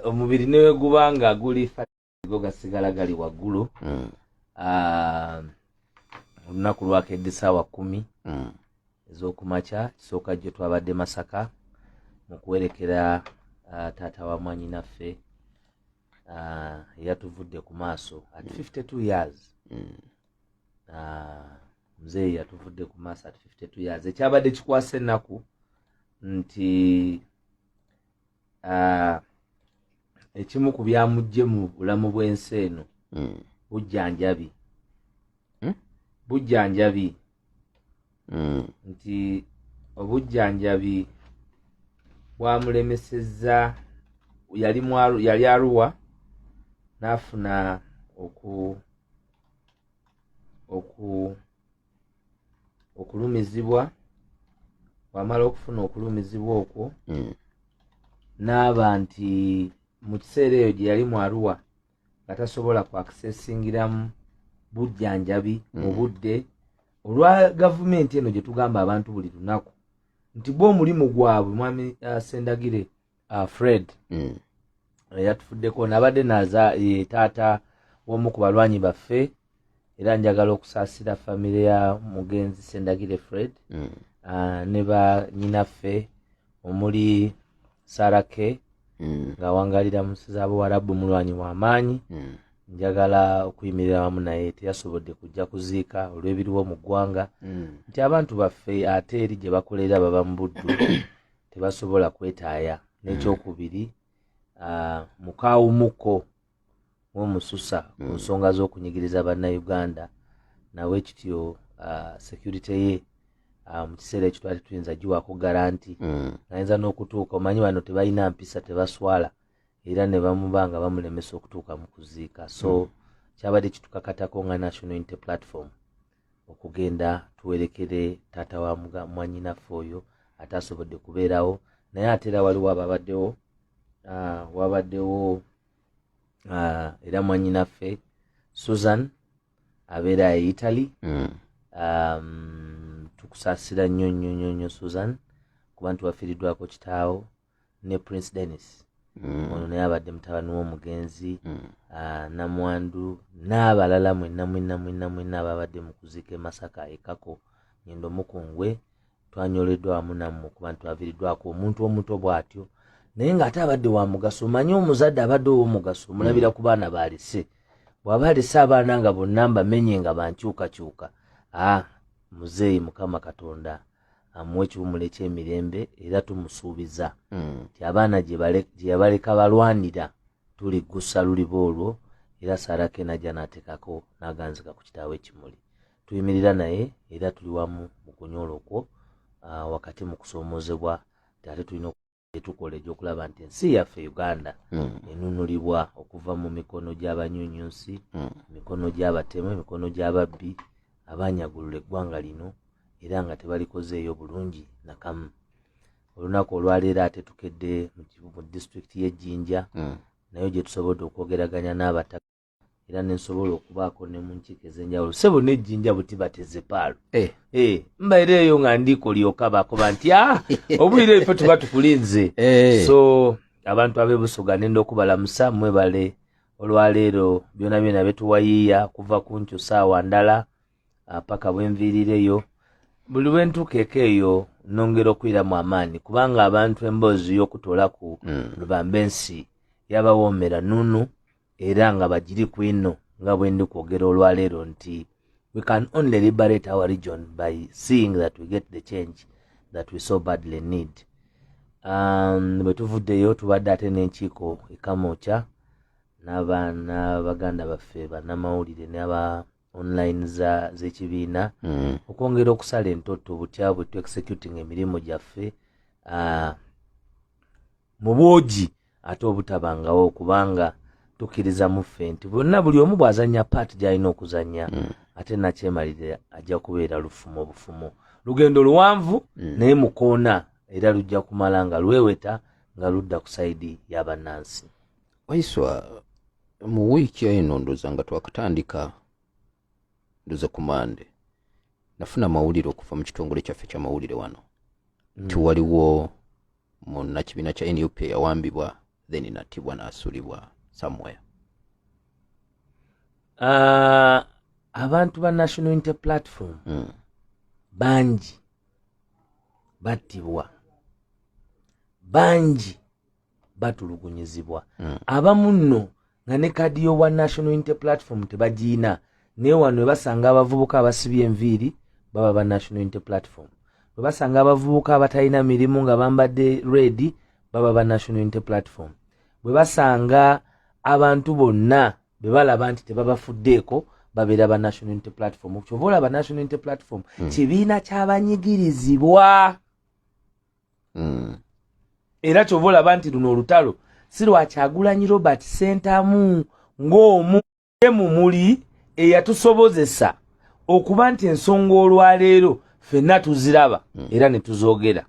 omubiri newe guba nga guli go gasigala gali waggulu mm. ah, olunaku lwakedde saawa kumi mm. ezokumakya kisooka jjo twabadde masaka mu kuwerekera ah, taata wa mwanyinaffe ah, yatuvudde ku maaso at 52 mm. years muzeeyi yatuvudde ku maaso at 52 years ekyabadde kikwasa ennaku nti ah, ekimu ku byamujje mu bulamu bw'ensi eno hmm. bujjanjabi hmm? bujjanjabi hmm. nti obujjanjabi bwamulemesezza yali yali aruwa n'afuna oku oku okulumizibwa wamala okufuna okulumizibwa okwo hmm. n'aba nti mu kiseera eyo gye yali mu aruwa nga tasobola ku akisesingiramu bujjanjabi hmm. mu budde olwa gavumenti eno gye tugamba abantu buli lunaku nti bo omulimu gwabwe mwami uh, sendagire uh, fred mm. yatufuddeko nabadde naza ye taata womu ku balwanyi baffe era njagala okusaasira famire ya mugenzi sendagire fred mm. uh, ne banyinaffe omuli sarake mm. ng'awangalira mu nsi z'abuwarabu mulwanyi w'amaanyi mm. njagala okuyimirira wamu naye teyasobodde kujja kuziika olw'ebiriwo mu ggwanga mm. nti abantu baffe ate eri gye bakolera baba mu buddu tebasobola kwetaaya n'ekyokubiri uh, mukaawumuko womususa ku mm. nsonga z'okunyigiriza bannayuganda nawe kityo uh, security ye uh, mu kiseera ekyo twali tuyinza giwako garanti mm. ayinza n'okutuuka omanyi bano tebalina mpisa tebaswala era ne bamuba nga bamulemesa okutuuka mu kuziika so mm. kyabadde kitukakatako nga national unity platform okugenda tuwerekere taata wa mwanyinaffe oyo ataasobodde kubeerawo naye ate era waliwo ababaddewo ah, wabaddewo ah, era mwanyinaffe susan abeera e italy mm. um, tukusasira nnyo nnyo nnyo nnyo susan kuba nti wafiiriddwako kitaawo ne prince denis mm. ono naye abadde mutabani w'omugenzi mm. ah, namwandu n'abalala mwena mwena mwena mwena ababadde mu kuziika e masaka ekako ngendo mukungwe twanyoleddwa wamu nammwe okuba nti twaviiriddwako omuntu omuto bw'atyo naye ng'ate abadde wa mugaso manye omuzadde abadde ow'omugaso omulabira mm. ku baana baalese bw'aba alese abaana nga bonna mbamenye nga bankyukakyuka a ah, muzeeyi mukama katonda amuwa ekiwumulo ekyemirembe era tumusuubiza hmm. nti abaana gyeyabaleka balwanira tuli gusa luliba olwo era sarake najja natekako naganzika ku kitaawo ekimuli tuyimirira naye era tuli wamu mu kunyoola okwo ah, wakati mu kusoomozebwa ti ate tulina gyetukola egyokulaba nti ensi yaffe uganda mm. enunulibwa okuva mu mikono gy'abanyunyunsi mm. emikono gy'abatemu emikono gy'ababbi abanyagulula eggwanga lino era nga tebalikozeeyo bulungi nakamu olunaku olwaleero ate tukedde mu disitulikiti y'ejjinja mm. nayo gyetusobodde okwogeraganya n'abataka era nensobola okubaako ne mu nkiiko ez'enjawulo sebo nejjinja buti batezepaalo eh. eh, mbaera eyo nga ndiiko lyoka bakoba nti a ah, obulire efe tuba tukulinze eh. so abantu abebusoga nenda okubalamusa mwebale olwaleero byona byona betuwayiiya kuva ku nkyo saawa ndala ah, paka bwenviirireyo buli lwentuukeeko eyo nongera okwiramu amaanyi kubanga abantu emboozi y'okutoolaku mm. lubamba ensi yabawoomera nunu era nga bagiri ku ino nga bwe ndi kwogera olwaleero nti we can only liberate our region by seeing that we get the change that we so badly need um, bwe tuvuddeyo tubadde ate n'enkiiko ekamokya n'abaana baganda baffe banamawulire naba online za z'ekibiina mm. okwongera okusala entotto butya bwe tu executing emirimu gyaffe uh, mu bwogi ate obutabangawo kubanga tukkiriza mu ffe nti bonna buli omu bw'azannya paati gy'alina okuzannya mm. ate nakyemalirira ajja kubeera lufumu obufumu lugendo luwanvu mm. naye mukoona era lujja kumala nga lweweta nga ludda ku sayidi y'abannansi waiswa mu wiiki eno ndoza nga twakatandika ndoza ku mande nafuna amawulire okuva mu kitongole kyaffe kyamawulire wano mm. nti waliwo munakibiina kya nup eyawambibwa then natibwa nasulibwa somewhere uh, abantu ba national inter platform mm. bangi battibwa bangi batulugunyizibwa mm. abamu nno nga ne kaadi y'owa national unity platform tebagiina naye wano webasanga abavubuka abasibye enviiri baba ba national unity platform webasanga abavubuka abatalina mirimu nga bambadde redi baba ba national unity platform bwe basanga abantu bonna be balaba nti tebabafuddeeko babeera ba national unity platform kyova olaba national unity platform mm. kibiina kyabanyigirizibwa mm. era kyova olaba nti luno olutalo si lwakyagulanyi robert sentamu ng'omu emu muli eyatusobozesa okuba nti ensonga olwaleero fenna tuziraba mm. era ne tuzoogera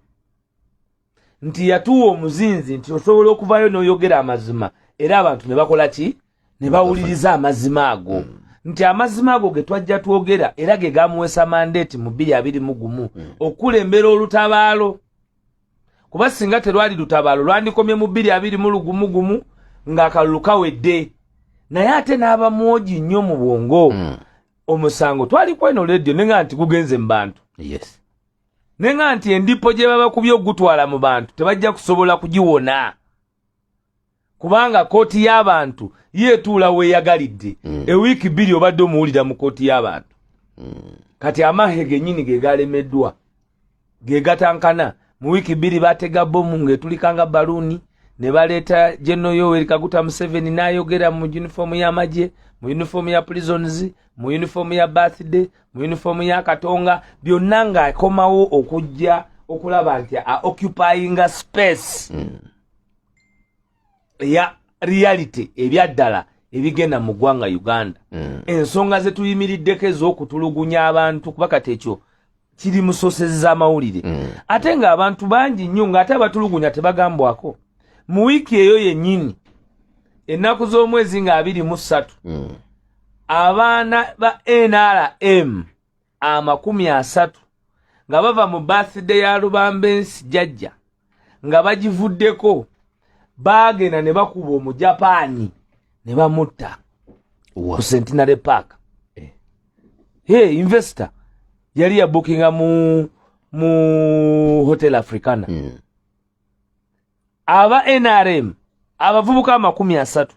nti yatuwa omuzinzi nti osobola okuvayo n'oyogera amazima era abantu ne bakola ki ne bawuliriza amazima ago mm. nti amazima ago ge twajja twogera era ge gamuweesa mandeeti mu bbiri abiri mu gumu mm. okukulembera olutabaalo kuba singa terwali lutabaalo lwandikomye mu bbiri abiri mu lugumu gumu ng'akalulu kawedde naye ate n'aba mwogi nnyo mu bwongo mm. omusango twali kweno leediyo ne nga nti gugenze mu bantu yes. ne nga nti endipo gye babakubye okugutwala mu bantu tebajja kusobola kugiwona kubanga kooti y'abantu yeetuula weeyagalidde mm. ewiiki bbiri obadde omuwulira mu kooti y'abantu mm. kati amahe genyini ge galemeddwa ge gatankana mu wiiki bbiri batega bomu ng'etulikanga baluuni ne baleeta genoyoweri kaguta museveni n'ayogera mu yunifoomu y'amagye mu yunifoomu ya prisons mu yunifoomu ya birthday mu yunifoomu ya katonga byonna ng'akomawo okujja okulaba nti a occupyinga space hmm. eya reality ebyaddala ebigenda mu ggwanga uganda hmm. ensonga zetuyimiriddeko ez'okutulugunya abantu kuba kati ekyo kiri mu sosezi z'amawulire mm. ate ng'abantu bangi nnyo ng'ate abatulugunya tebagambwako mu wiiki eyo yennyini ennaku z'omwezi nga abiri mu ssatu mm. abaana ba nrm amakumi asatu nga bava mu birthday ya lubambensi jajja nga bagivuddeko baagenda ne bakuba omujapaani ne bamutta ku centenary park eh. hey, investor yali yabukinga mu mu hotel africana mm. aba nrm abavubuka amakumi asatu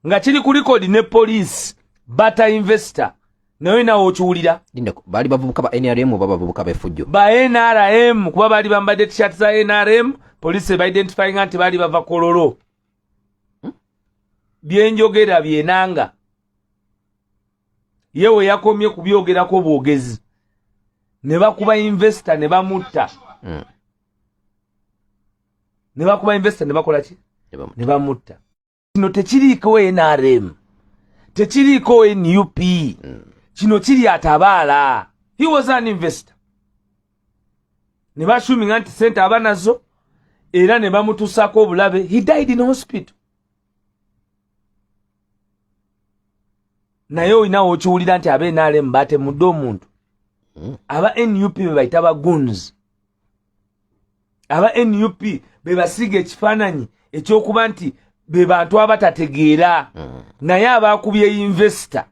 nga kiri ku likodi ne poliisi bata investor naye nawe okiwulira bali bavubuka ba nrm oba bavubuka befujjo ba nrm kuba bali bambadde tishat za nrm poliisi ebaidentifyinga nti bali bava kololo hmm? byenjogera byenanga ye we yakomye kubyogerako bwogezi ne bakuba investo ne bamutta hmm. ne bakuba investo ne bakola ki ne bamutta kino tekiriiko nrm tekiriiko nup kino kiri atabaala he was an investor ne bashuminga nti sente aba nazo era ne bamutusaako obulabe he died in hospital naye olinawo okiwulira nti aba nrm batemudde omuntu aba nup bebayita baguns aba nup bebasiiga ekifaananyi ekyokuba nti be bantu abatategeera mm. naye abaakubye investor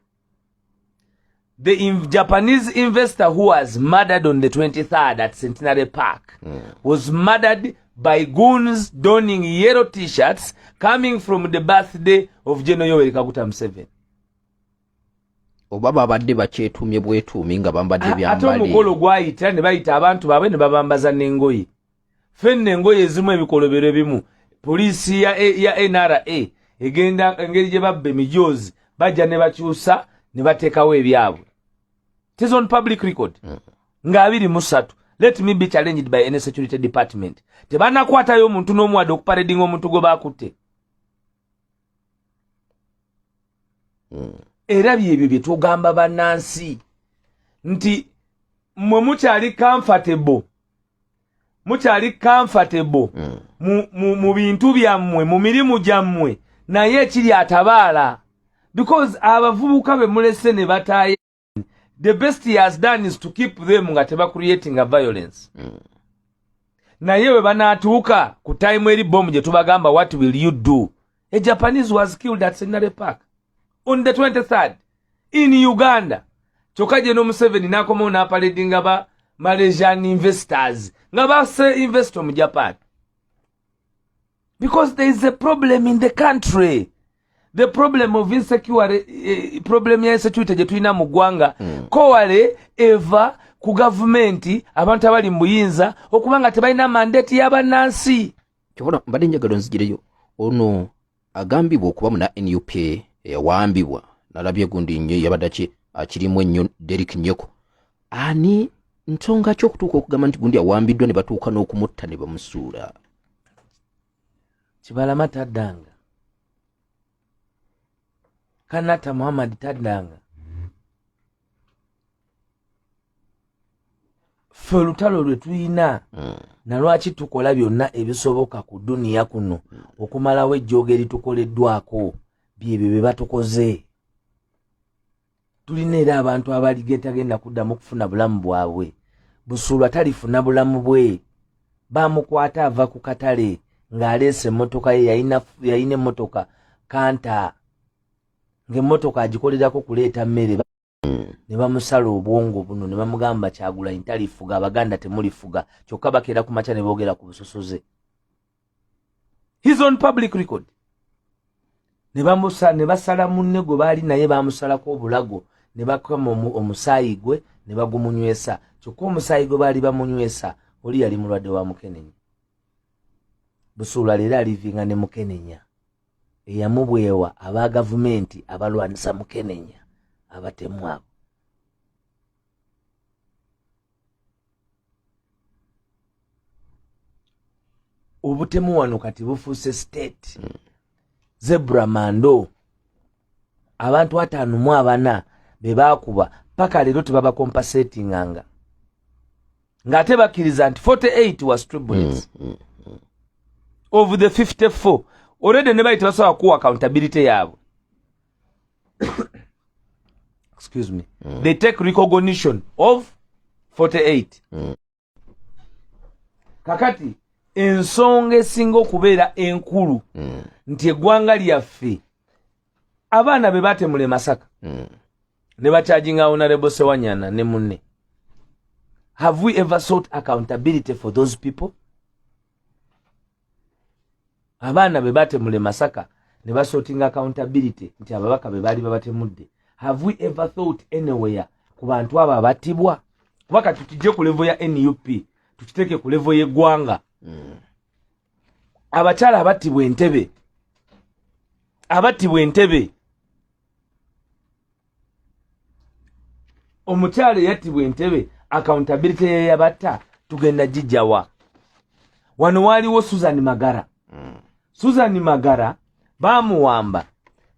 the in japanese investor who was murdered on the 23rd at centenary park mm. was murdered by goons donning yellow t-shirts coming from the birthday of general yoweri kaguta museveni oba babadde bakyetuumye bwetuumi nga bambadde byambade ate omukolo gwayita ne bayita abantu baabwe ne babambaza n'engoye fenna engoye ezimu ebikolobero ebimu poliisi ya, ya nra egenda engeri gye babba emijoozi bajja ne bakyusa ne bateekawo ebyabwe tis on public record mm. nga abiri musatu let me be challenged by any security department tebanakwatayo omuntu n'omuwade okuparedinga omuntu gwe bakutte hmm. era byebyo bye tugamba bannansi nti mwe mukyali comfortable mukyali comfortable mm. mu, mu, mu bintu byammwe mu mirimu gyammwe naye ekiri atabaala because abavubuka be mulese ne bataaye the best he has done is to keep them nga teba creating a violence mm. naye we banatuuka ku time eri bomu gye tubagamba what will you do a japanese was killed at senary park on the 23rd in uganda kyokka gye nomuseveni nakomawo napaledinga ba malaysian investors nga base investo mu japan because there is a problem in the country the problem of insecure eh, problem ya insecurity gye tulina mu ggwanga mm. kowale eva ku gavumenti abantu abali mu buyinza okuba nga tebalina mandate y'abannansi kyobona mbadde njagala onzigireyo ono agambibwa okuba muna nup eyawambibwa nalabye gundi nyo yabadaki akirimu ennyo derik nyoko ani nsonga ki okutuuka okugamba nti gundi awambiddwa ne batuuka n'okumutta ne bamusuula kibalama taddanga kanata muhammad taddanga ffe olutalo lwe tulina hmm. nalwaki tukola byonna ebisoboka ku duniya kuno hmm. okumalawo ejjooga eritukoleddwako byebyo bye batukoze tulina era abantu abaligentagenda kuddamu okufuna bulamu bwabwe busuulwa talifuna bulamu bwe bamukwata ava ku katale ng'aleesa emmotoka ye yalina emmotoka kanta ng'emmotoka agikolerako kuleeta mmere ne bamusala obwongo buno ne bamugamba kyagulanyi talifuga abaganda temulifuga kyokka bakeera ku makya ne boogera ku busosoze his on public record ne bamusa ne basala munne gwe baali naye bamusalako obulago ne bakama omusaayi gwe ne bagumunywesa kyokka omusaayi gwe baali bamunywesa oli yali mulwadde wa mukenenya busuula leero alivinga ne mukenenya eyamubwewa aba gavumenti abalwanisa mukenenya abatemu abo obutemu wano kati bufuuse state mm. zebra mando abantu ataano mu abana be baakuba paka leero tebabakompasetinganga ng'ate bakkiriza nti 48 was tribulets mm, mm, mm. of the 54 olede ne bayi tebasobola kuwa accountability yaabwe excuse me mm. they take recognition of 48 mm. kakati ensonga esinga okubeera enkulu mm. nti eggwanga lyaffe abaana be batemula emasaka mm. ne bakyajinga honorable sewanyana ne munne have we ever sought accountability for those people abaana be batemule masaka ne basorting accountability nti ababaka be baali babatemudde have we ever thought anywhere ku bantu abo abattibwa kuba kati tujje ku levo ya nup tukiteeke ku levo y'eggwanga hmm. abakyala abattibwa entebe abattibwa entebe omukyalo eyattibwa entebe accountability yeyabatta tugenda gijawa wano waaliwo susan magara mm. susan magara bamuwamba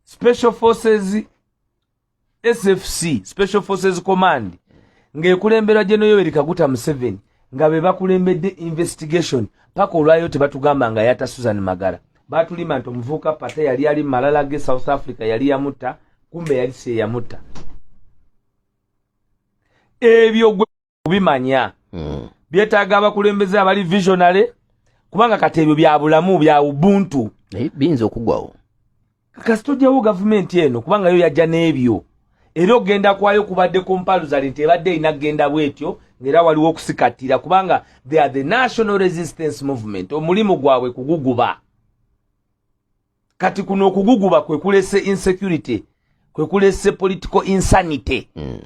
special forces sfc special forces command ng'ekulemberwa gye noyoweri kaguta museveni nga be bakulembedde investigation paka olwayo tebatugamba nga yata susan magara batulima nti omuvubuka pate yali ali mumalala ge south africa yali yamutta kumbe yali si yeyamutta ebyo gwe kubimanya hmm. byetaaga abakulembeze abali visionary kubanga kati ebyo bya bulamu bya ubuntu biyinza okugwawo kasi tojjawo gavumenti eno kubanga yo yajja n'ebyo era okugenda kwayo kubadde ku mpalu zali nti ebadde erina kugenda bwetyo ngaera waliwo okusikattira kubanga they are the national resistance movement omulimu gwabwe kuguguba kati kuno okuguguba kwekulese insecurity kwekulese political insanity mm.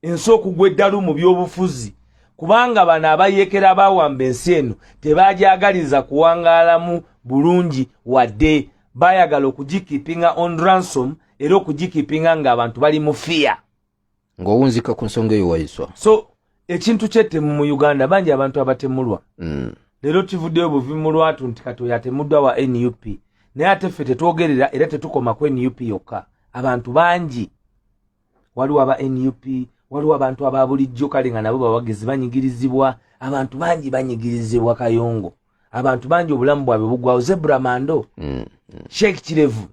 ensi okugwa eddalu mu byobufuzi kubanga bano abayekera bawamba ensi eno tebagyagaliza kuwangaalamu bulungi wadde bayagala okugikipinga on ransom era okugikipinga ngaabantu bali mu fiya ngaowunzika ku nsonga eyo waiswa so ekintu kyettemu mu uganda bangi abantu abatemulwa mm. leero kivuddeyo buvi mu lwatu nti katoyo atemuddwa wa nup naye ate ffe tetwogerera era tetukoma ku nup yokka abantu bangi waliwo aba nup waliwo abantu aba bulijjo kale nga nabo bawagizi banyigirizibwa abantu bangi banyigirizibwa kayongo abantu bangi obulamu bwabwe bugwawo zebra mando mm, mm. sheik kirevu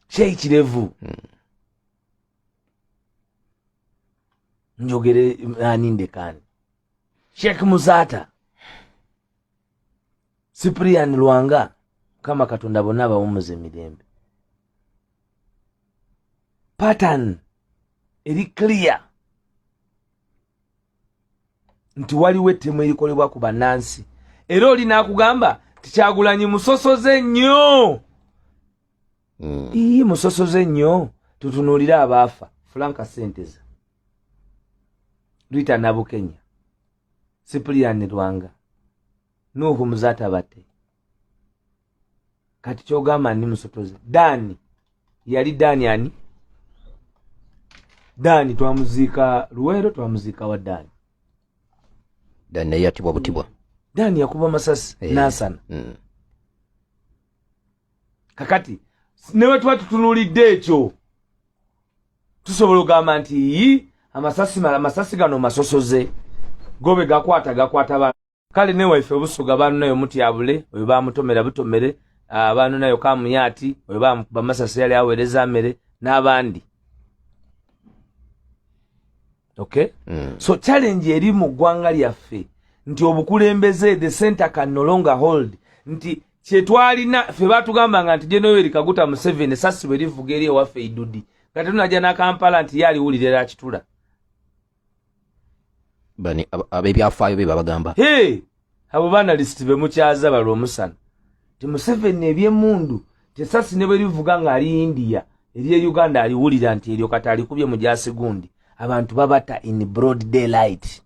sheik kirevu mm. njogere ani ndekani sheik muzata siprian lwanga mukama katonda bonna abawumuza emirembe patan eri clear nti waliwo ettemu erikolebwa ku bannansi era oli nakugamba tikyagulanyi musosoze nnyo mm. ii musosoze nnyo tutunuulire abaafa fulanka senteza rita nabukenya sipuliyani lwanga nuhu muzata bate kati kyogamba ni musotozi dani yali dani ani dani twamuziika luweero twamuziika wa dani dani naye yatibwa butibwa dani yakuba masasi eh, nasana mm. kakati ne bwe tuba tutunuulidde ekyo tusobola ogamba nti yi amasasi mala amasasi gano masosoze gobe gakwata gakwata ba kale ne waife obusuga banu nayo mutyabule oyo bamutomera butomere abantu nayo kamuyati oyo bamukuba masasi yali awereza mere n'abandi okay mm. so challenge eri mu ggwanga lyaffe nti obukulembeze the center can no longer hold nti kyetwalina fe batugambanga nti jenoeri kaguta museven esasi bwe livuga eri ewaffe idudi nga tetunaja nakampala nti ye aliwulira era akitula abebyafaayo be babagamba abo banalist bemukyaza balwa omusana ti museveni ebyemundu tesasi ne bwe livuga nga ali india erye uganda aliwulira nti eryo kati alikubye mu gyasigundi abantu babata in broad daylight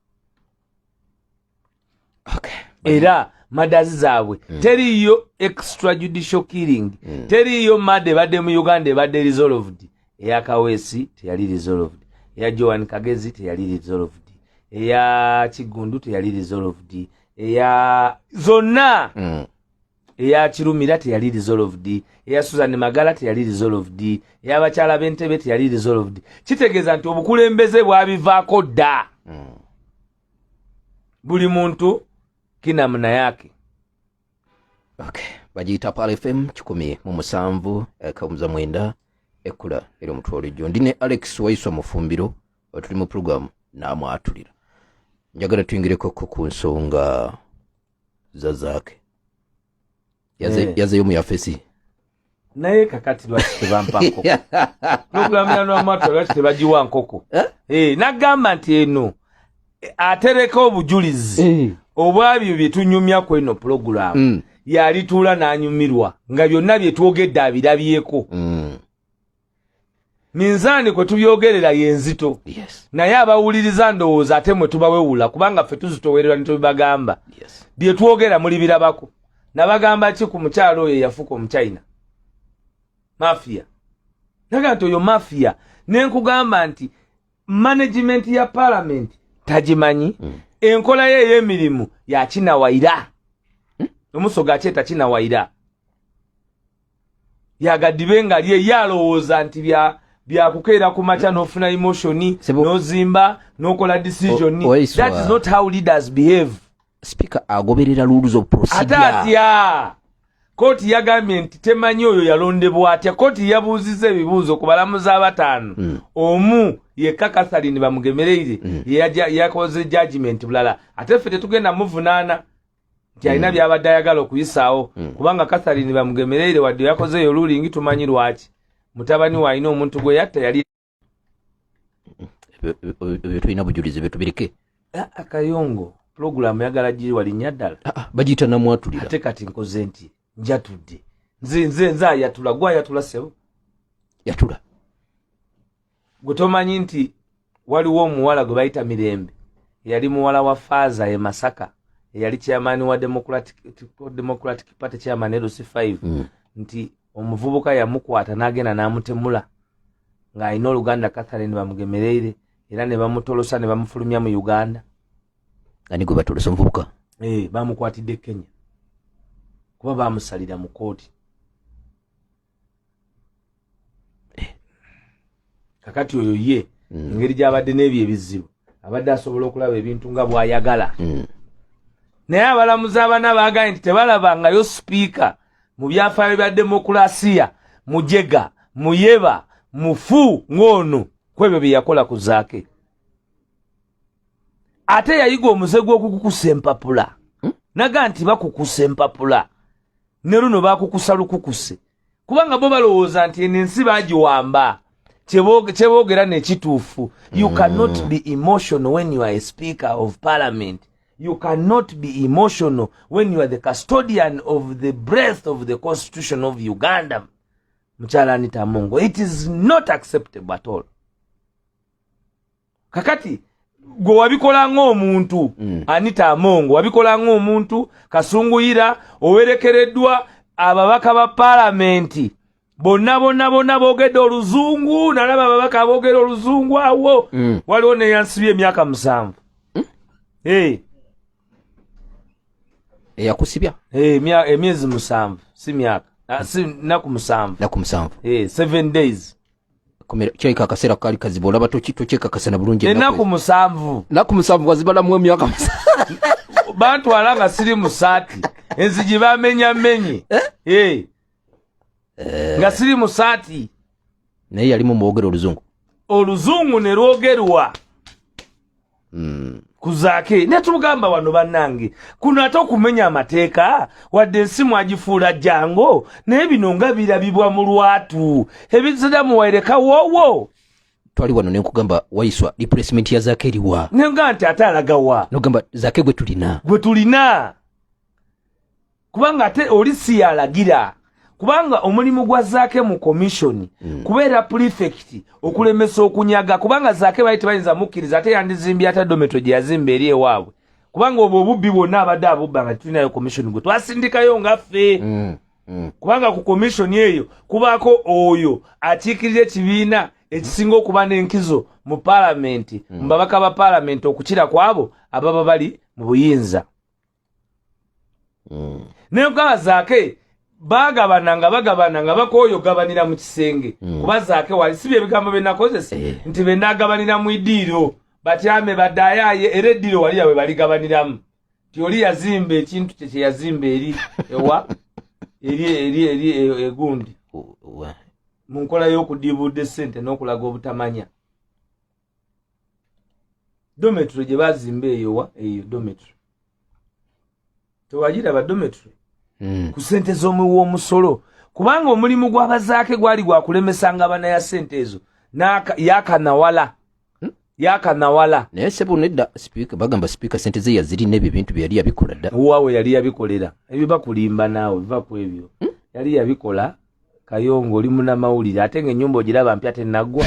okay. era madazi zaabwe mm. teriiyo extrajudicial killing mm. teriiyo mada ebadde mu uganda ebadde resolved eya kaweesi teyali resolved eya joan kagezi teyali resolved eya kiggundu teyali resolved eya zonna mm. eya kirumira teyali resolved eya susan magala teyali resolved eya bakyala b'entebe teyali resolved kitegeeza nti obukulembeze bwabivaako dda mm. buli muntu kinamunayake okay. bagiyita pal fm kikumi mu musanvu eh, kawumuza mwenda ekkula eri omutwe olijjo ndi ne alex waiswa mufumbiro tuli mu pulogulaamu n'amwatulira njagala tuyingireko ko ku nsonga za zaake yazeyo eh. mu yafesi naye kakati lwaki tebampa nkoko nokulamira nwamatu lwaki tebagiwa nkoko eh? Eh, nagamba nti eno eh, atereka obujulizi obwabyo byetunyumya ku eno pulogulamu mm. yalituula nanyumirwa nga byonna byetwogedde abirabyeko mm. minzaani kwe tubyogerera yenzito yes. naye abawuliriza ndowooza ate mwe tubawewula kubanga ffe tuzitowerera nitubibagamba yes. bye twogera muli birabako nabagamba ki ku mukyalo oyo eyafuka omuchina mafia naga nti oyo mafia nenkugamba nti management ya parliament tagimanyi mm. enkola ye ey'emirimu yakinawaira hmm? omusoga akyeta kinawaira yagadibe nga lye yalowooza nti bya byakukeera ku makya nofuna emotion nozimba nokola decision that is not how leaders behave speaker agoberera rules of procedure atatya kooti yagambye nti temanyi oyo yalondebwa atya kooti yabuuziza ebibuuzo ku balamuzi abataano mm. omu yekka katharine bamugemereire mm. yakoze judgment bulala ate ffe tetugenda muvunaana nti alina mm. byabadde ayagala okuyisaawo mm. kubanga katharine bamugemereire wadde yakozeeyo lulingi tumanyi lwaki mutabani we alina omuntu gwe yatta yali ebyo tulina bujulizi byetubireke ah, akayongo pulogulaamu yagala giri walinya ddala ah, ah, bagiyita namwatulira ate kati nkoze nti njatudde nze nze nze ayatula gwe ayatula sebo yatula gutomanyi nti waliwo omuwala gwe bayita mirembe yali muwala wa faaza e masaka eyali chairman wa democratic, democratic party chairman erusi 5 mm. nti omuvubuka yamukwata n'agenda n'amutemula ng'alina oluganda catherine bamugemereire era ne bamutolosa ne bamufulumya mu uganda ani gwe batolosa omuvubuka ee eh, bamukwatidde kenya kuba bamusalira mu kooti eh. kakati oyo ye mm. engeri gyabadde n'ebyo ebizibu abadde asobola okulaba ebintu nga bwayagala mm. naye abalamuzi abana baagaye nti tebalabangayo sipiika mu byafaayo bya demokulasiya mujega muyeba mufu ng'ono ku ebyo bye yakola ku zaake ate yayiga omuze gw'okukukusa empapula hmm? naga nti bakukusa empapula ne luno bakukusa lukukuse kubanga bo balowooza nti eno ensi bagiwamba kyeboogera nekituufu you hmm. cannot be emotional when you are a speaker of parliament you cannot be emotional when you are the custodian of the breath of the constitution of uganda mukyala anita mungo it is not acceptable at all kakati gwe wabikola ng'omuntu mm. anita amongo wabikola ng'omuntu kasunguyira owerekereddwa ababaka ba palamenti bonna bonna bonna boogedde oluzungu nalaba ababaka aboogera oluzungu awo mm. waliwo neyansibye emyaka musanvu mm. hey. eyakusibya hey, emyezi musanvu si myaka ah, si naku musanvu naku musanvu hey, seven days komera kyaika akaseera kaali kazibu olaba tokyekakasana bulungi enaku musanvu naku musanvu wazibalamu emyaka bantwala nga siri musaati enzigi bamenyamenye eh? Eh. Eh. nga siri musaati naye yalimu mwogera oluzungu oluzungu ne lwogerwa Hmm. kuzaake naye tumugamba wano bannange kuno ate okumenya amateeka wadde ensi mwagifuula jango naye bino nga birabibwa mu lwatu ebizira muwaireka woowo twali wano nenkugamba waiswa replacement ya zaake eriwa nenga nti ate alagawa nogamba zaake gwe tulina gwe tulina kubanga ate oli siyalagira kubanga omulimu gwa zaake mu komishoni mm. kubeera pulifekiti okulemesa okunyaga kubanga zaake bali tebayinza mukkiriza ate yandizimbye ata dometo gye yazimba eri ewaabwe kubanga obwo obubbi bwonna abadde abubba nga tulinayo komishoni gwe twasindikayo nga ffe mm. mm. kubanga ku komishoni eyo kubaako oyo akiikirira ekibiina ekisinga okuba n'enkizo mu palamenti mm. mu babaka ba palamenti okukira kwabo ababa bali mu buyinza mm. naye kugaba zaake bagabana nga bagabana nga bakooyo gabanira mu kisenge mm. kuba zaake wali si byebigambo byenakozesa eh. nti benagabanira mu idiiro batyame badayaaye era eddiiro wali yabwe baligabaniramu ti oli yazimba ekintu kye kyeyazimba eri ewa eri eri eri e, egundi mu nkola y'okudiibuudde ssente n'okulaga obutamanya dometry gye bazimba eyowa eyo dometry tewagiraba dometry hmm. ku sente z'omuwa omusolo kubanga omulimu gw'abazaake gwali gwakulemesanga abana ya sente ezo yakanawala hmm? yakanawala naye sebo nedda sipiika bagamba sipiika sente ze yazirina ebyo ebintu byeyali yabikola dda waawe yali yabikolera ebyo bakulimba naawe va ku ebyo hmm? yali yabikola kayongo oli munamawulire ate nga enyumba ogiraba mpya tenagwa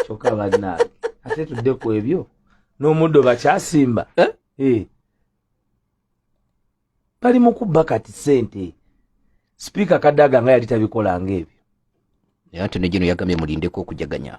kyoka banange ate tudde ku ebyo n'omuddo bakyasimba eh? Eh. bali mu kubba kati sente sipiika kadaga nga yali tabikolanga ebyo naye ate negino yagambye mulindeko okujaganya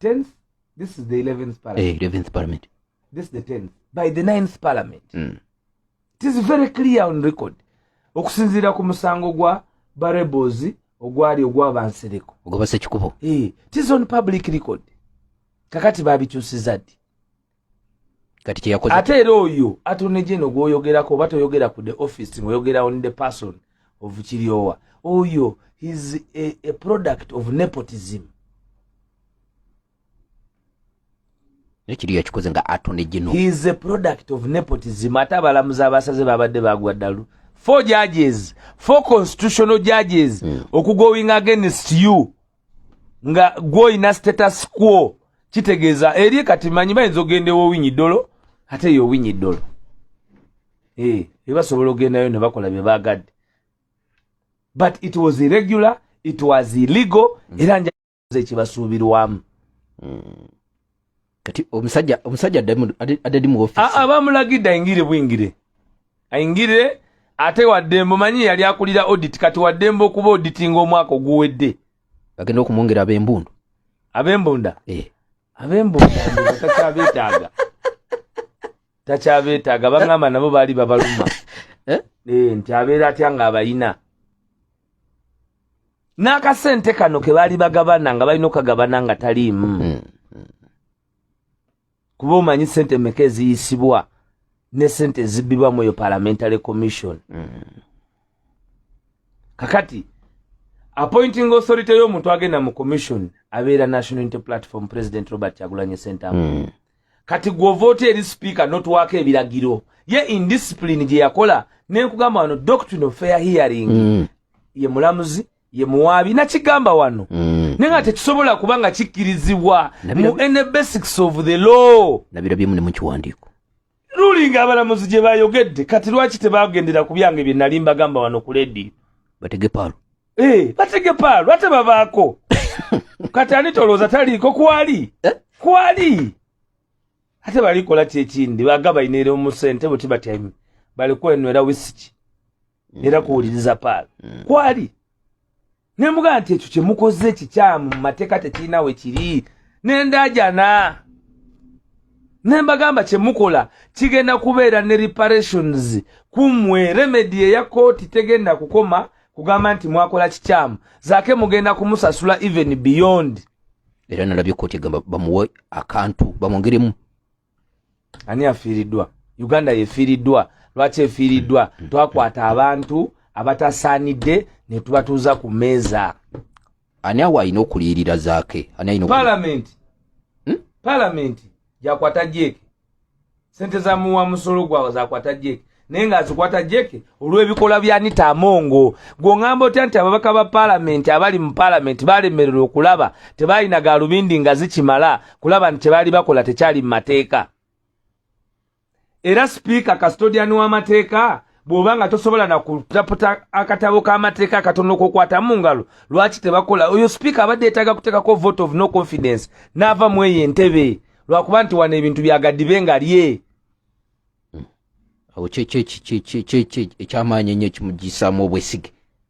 10th this is the 11th parliament, eh, 11th parliament. this is the 10th by the 9th parliament mm. it is very clear on record okusinziira ku musango gwa barebozi ogwali ogwabansereko ogwabasekikubo hey, eh, it is on public record kakati babikyusiza ddi kati kyeyakoze ate era oyo atone jeno gwoyogerako oba toyogera ku the office ngoyogera on the person of kiryowa oyo his a, a product of nepotism nekiriyo yakikoze nga atone jeno he is a product of nepotism ate abalamuzi abasaze babadde bagwa ddalu four judges four constitutional judges mm. okugowing against you nga gwoyina status quo kitegeeza eri kati manyi bayinza ogenda ewowinyi dolo ate eyo owinyi dolo eh, ebasobola ogendayo ne bakola bye bagadde but it was irregular it was illegal era njaza ekibasuubirwamu mm. kati omusajja omusajja adadi mu office a abamulagidde ayingire bwingire ayingire ate waddembo manyi yali akulira audit kati waddembo okuba auditinga omwaka oguwedde bagenda okumwongera ab'embundu ab'embunda eh. ab'embunda takyabetaaga takyabetaaga bangamba nabo baali babaluma eh? Eh, nti abeera atya nga abayina n'akasente kano ke baali bagabana nga balina okukagabana nga taliimu hmm, hmm, hmm. kuba omanyi sente meka eziyisibwa ne sente ezibbibwa mu eyo parliamentary commission kakati appointing authority y'omuntu agenda mu commission abeera national unity platform president robert kyagulanyi sentamu kati gwovoota eri sipiika notwako ebiragiro ye indiscipline gye yakola nenkugamba wano doctrine of fair hearing mm. ye mulamuzi ye muwaabi nakigamba wano mm. naye nga tekisobola kuba nga kikkirizibwa mu any basics of the law nabirabyemu ne mukiwandiiko ruling abalamuzi gye bayogedde kati lwaki tebagendera ku byange bye nali mbagamba wano ku ledi bategepaalo Eh. batege paalu ate babaako kati ani tolowooza taliiko kwali eh? kwali ate balikola ki ekindi baga balina era omusente buti batyaime balikwenwera wisiki mm. era kuwuliriza paalu mm. kwali ne mbuga nti ekyo kyemukoze kikyamu mu mateeka tekirina we kiri nendajana ne mbagamba kyemukola kigenda kubeera ne reparations kumwe remedi eya kooti tegenda kukoma kugamba nti mwakola kikyamu zake mugenda kumusasula even beyond era nalabye koti egamba bamuwe akantu bamwongeremu ani afiiriddwa uganda yefiiriddwa lwaki efiiriddwa mm, mm, twakwata mm. abantu abatasaanidde netubatuuza ku meeza ani awo alina okuliyirira zaake ani alina palamenti hmm? palamenti gyakwata jeeke sente za muwa musolo gwawe zakwata jeeke naye nga azikwata jeeke olw'ebikolwa bya nita amongo gwongamba otya nti ababaka ba palamenti abali mu palamenti balemererwa okulaba tebalina galubindi nga zikimala kulaba nti kyebaali bakola tekyali mu mateeka era sipiika custodian w'amateeka bw'oba nga tosobola na kutaputa akatabo k'amateeka akatono kokwata mu ngalo lwaki tebakola oyo sipiika abadde yetaaga kuteekako vote of no confidence n'ava mu eyo entebe lwakuba nti wano ebintu byagadibe nga lye awo ekyamaanyi ennyo ekimugiyisaamu obwesige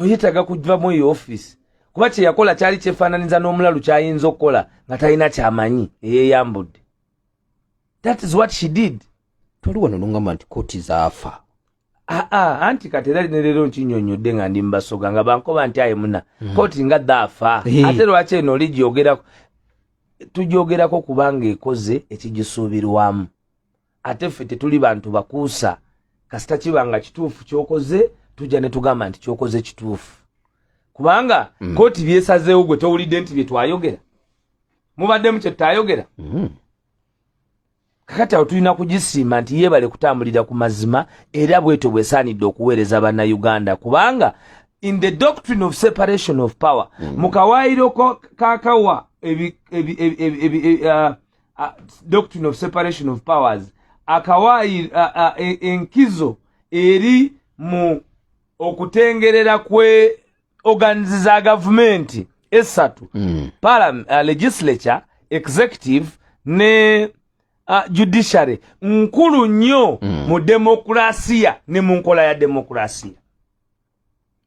oyetaga kujvamu eyo office kuba kyeyakola kyali kyefananiza n'omulalu kyayinza okukola nga talina kyamanyi eyeyambudde that is what she did toli wano nongamba nti koti zaafa aa ah, ah, anti kati era nerero nkinyonyodde nga ndi mubasoga nga bankoba nti aye muna mm. koti nga dhaafa ate lwaki eno oli gyogerako tugyogerako kubanga ekoze ekigisuubirwamu ate ffe tetuli bantu bakuusa kasita kiba nga kituufu kyokoze tujja ne tugamba nti kyokoze kituufu kubanga mm. kooti byesazeewo gwe towulidde nti bye twayogera mubaddemu kye tutayogera mm. kakati awo tulina kugisiima nti yeebale kutambulira ku mazima era bwetyo bwesaanidde okuweereza bannayuganda kubanga in the doctrine of separation of power mm. mu kawaayiro kakawa ebi, ebi, ebi, ebi, ebi, ebi, uh, uh, doctrine of separation of powers akawaayi uh, uh, e, enkizo eri mu okutengerera kwe organizi za gavumenti esatu mm. palam, uh, legislature executive ne uh, judiciary nkulu nnyo mm. mu demokrasiya ne mu nkola ya demokrasiya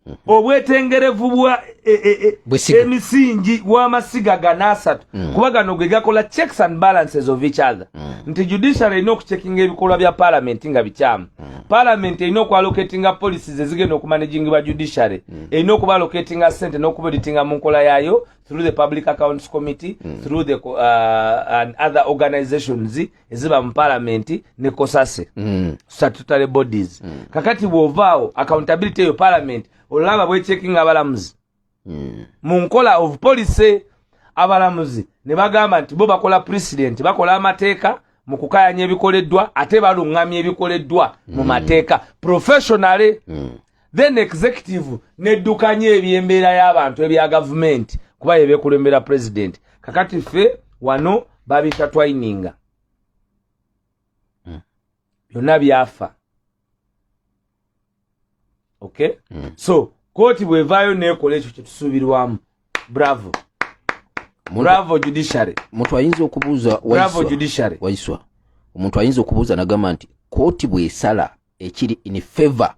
mhm. obwetengerevu bwa e, e, e, emisingi w'amasiga gano asatu mm. kuba gano ge gakola checks and balances of each other mm. nti judicial erina okucekinga ebikolwa bya palamenti nga bikyamu mm. palamenti erina okualoketinga policies ezigenda okumanagingibwa judiciary erina okubaloketinga sente n'okubeditinga mu nkola yaayo through the public accounts committee through the uh, and other organizations eziba mu palamenti ne kosase mm. statutory bodies mm. kakati bwovaawo accountability eyo palamenti olaba bwechekinga abalamuzi mm. mu nkola of policy abalamuzi ne bagamba nti bo bakola president bakola amateeka mu kukayanya ebikoleddwa ate baluŋŋamya ebikoleddwa mu mm. mateeka professionally mm. then executive neddukanya ebyembeera y'abantu ebya gavumenti kuba yebekulembera president kakati ffe wano babiyita twininga hmm. byonna byafa okay hmm. so kooti bwevaayo nekola ekyo kyetusuubirwamu bravo bravo judiciary muntu ayinza okubuuza bravo judiciary waiswa omuntu ayinza okubuuza nagamba nti kooti bwesala ekiri in favor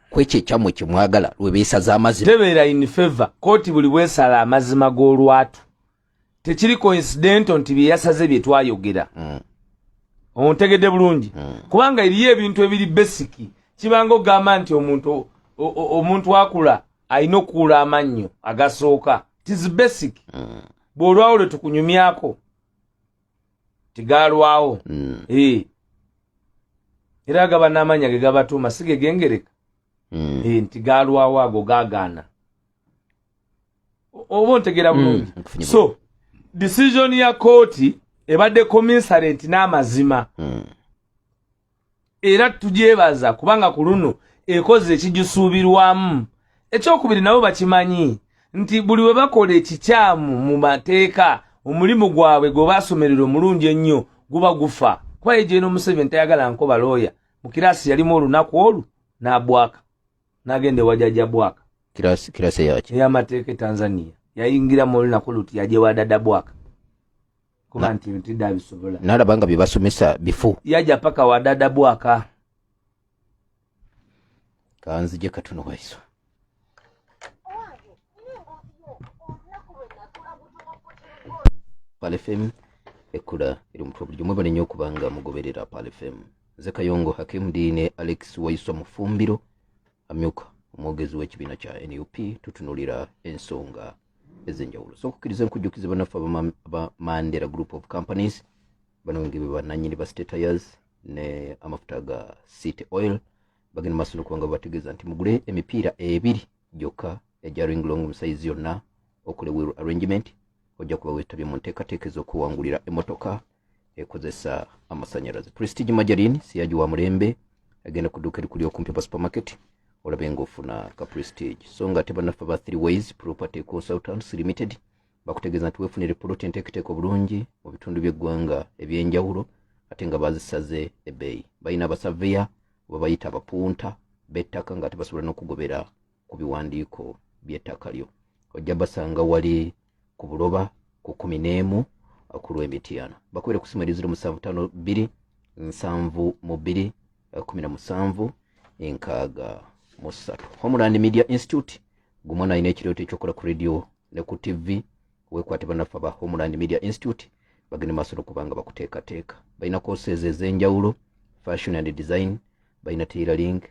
kwekyo ekyamwe kyemwagala lwebeesaza amazima tebeera in favor kooti buli bwesala amazima g'olwatu tekiri coincidental nti byeyasaze bye twayogera mm. ontegedde bulungi mm. kubanga eriyo ebintu ebiri besiki kibanga ogamba nti omuntu omuntu akula alina okuula amannyo agasooka tis basic mm. bw'olwawo lwe tukunyumyako tigalwawo mm. e. era gaba n'amanya ge gabatuuma si ge gengereka mm. e, nti galwawo ago gagaana oba ontegera hmm, bulungi mm. so decision ya kooti ebadde komisarenti n'amazima mm. era tugyebaza kubanga ku luno ekoze ekigisuubirwamu ekyokubiri nabo bakimanyi nti buli we bakola ekikyamu mu mateeka omulimu gwabwe gwe baasomerera omulungi ennyo guba gufa kuba ye gyeno museveni tayagala nko balooya mu kiraasi yalimu olunaku olwo n'abwaka n'agenda ewajaja bwaka eyamateeka e tanzania yayingira mu olunaku luti yajewadada bwaka kuba nti bintu dabisobola nalaba nga byebasomesa bifu yaja paka wadada bwaka kanzije katuno waiso palefem ekula eri omutwe bulijo mwebale nyo okubanga mugoberera palefem nze kayongo hakim diine alex waiso mufumbiro amyuka omwogezi w'ekibiina kya nup tutunulira ensonga ez'enjawulo so okukkiriza enkujjukizi banaffe aba mandela group of companies bano nge bebananyini ba statayers ne amafuta ga city oil bagenda maaso nokubanga babategeeza nti mugule emipiira ebiri gyokka egya ring long musayizi yonna okole wheel arrangement ojja kuba wetabye mu nteekateeka ez'okuwangulira emotoka ekozesa amasanyalaze prestige majarin siyaji wa mulembe agenda kuduka erikuli okumpi pa supermarket olabe nga ofuna ka prestige so nga ate banaffe ba three ways property consultants limited bakutegeeza nti wefunire poloti enteeketeeka obulungi mu bitundu by'eggwanga ebyenjawulo ate nga bazisaze ebeeyi balina abasaveya oba bayita abapunta bettaka nga ate basobola n'okugobera ku biwandiiko by'ettaka lyo ojja basanga wali ku buloba ku kumi n'emu ku lw'emityana bakubire ku simu eri ziro musanvu ttaano bbiri nsanvu mu bbiri kumi na musanvu enkaaga mu ssatu homeland media institute gumwana alina ekirooto ekyokola ku radio ne ku ttivi wekwate banaffe aba homeland media institute bagende maaso nokubanga bakuteekateeka balina courses ez'enjawulo fashion and design balina tailoring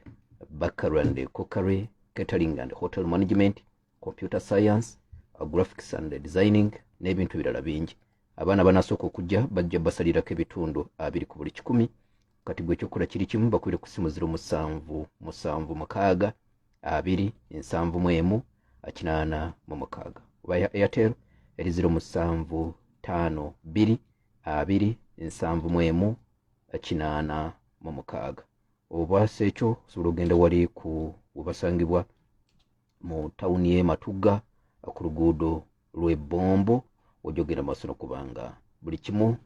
bakery and cookery catering and hotel management computer science uh, graphics and designing n'ebintu ebirala bingi abaana banasooka okujja bajja basalirako ebitundu abiri ku buli kikumi kati gwe ekyokukola kiri kimu bakwire ku ssimu ziro musanvu musanvu mukaaga abiri ensanvu mu emu kinaana mu mukaaga oba ya airtel eri ziro musanvu taano bbiri abiri ensanvu mu emu kinaana mu mukaaga obwasa ekyo osobola okugenda wali ku webasangibwa mu tawuni y'e matugga ku luguudo lw'e bombo ojogera maaso nokubanga buli kimu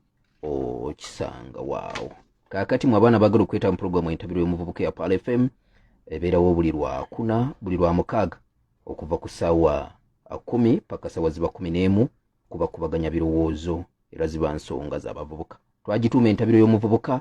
okisanga waawo kaakati mu abaana bagala okweta mu pulogulaamu entabiro y'omuvubuka ya pal fm ebeerawo buli lwakuna buli lwa mukaaga okuva ku ssaawa kumi paka ssaawa ziba kumi n'emu kuba kubaganya birowoozo era ziba nsonga z'abavubuka twagituuma entabiro y'omuvubuka